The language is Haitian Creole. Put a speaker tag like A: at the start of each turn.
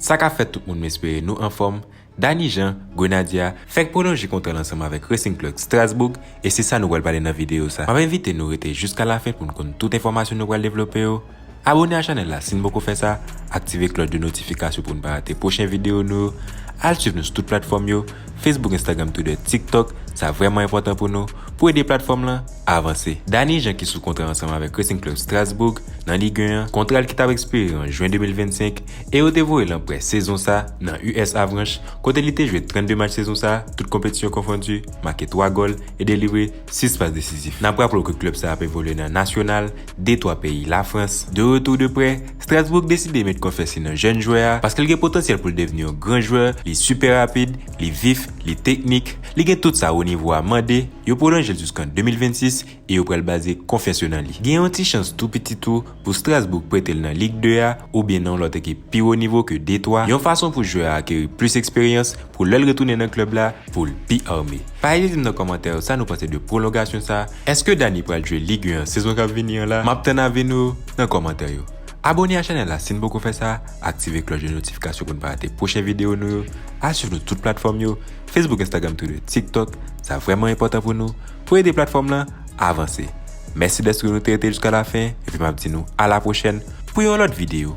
A: Sa ka fèt tout moun m espere nou anfòm, Dany Jean, Grenadya, fèk pwolonje kontra l ansanm avèk Racing Club Strasbourg e se sa nou pral pale nan videyo sa. M ap envite nou rete jiskalafen pou n konn tout enfòmasyon nou pral devlope yo. Abone a chanèl la sin poko fè sa, aktive klòch de notifikasyon poun pa rate pwochen video nou yo, al swiv nou sou tout platfòm yo, Facebook Instagram Twitter TikTok, sa vrèman enpòtan pou nou, pou ede platfòm lan avanse. Dany Jean ki sou kontra ansanm avèk Racing Club Strasbourg nan Ligue 1 an, kontra l ki tap ekspire an Jwen 2025 e yo te voye l an prè sezon sa nan US Avranches kote li te jwe 32 match sezon sa tout konpetisyon konfondi, make 3 gòl e delivre 6 pas desizif. N ap raple w ke klèb sa ap evolye nan Nasyonal de 3 peyi Lafrans. De retou de prè, Strasbourg deside met konfyans li nan jèn jwè a, paske l gen potansyèl pou l devni yon gran jwè, li sipè rapid, li vif, li teknik, li gen tout sa wo nivo a mande, yo pwolonje l jouskan 2026 e yo pral baze konfyans yo nan li. Gen yon ti chans tou piti tou, pou Strasbourg prete l nan Ligue 2 a oubyen nan yon lòt ekip pi wo nivo ke Detroit, yon fason pou jwè a akeri plis eksperyans pou lè l retounen nan klèb la pou l pi arme. Pa ezite di m nan kòmantè yo sa nou panse de pwolongasyon sa, èske Dany pral jwe Ligue 1 an sezon k ap vini an la, m ap tann avi nou yo nan kòmantè yo. Abone a chanèl la si n poko fè sa, aktive klòch de notifikasyon pou n pa rate pwochen videyo nou yo, al swiv nou tout platfòm yo, Facebook Instagram Twitter TikTok, sa vrèman enpòtan pou nou, pou ede platfòm lan avanse. Mèsi dèske nou te rete jiska lafen epi map di nou a la pwochèn pou yon lòt videyo.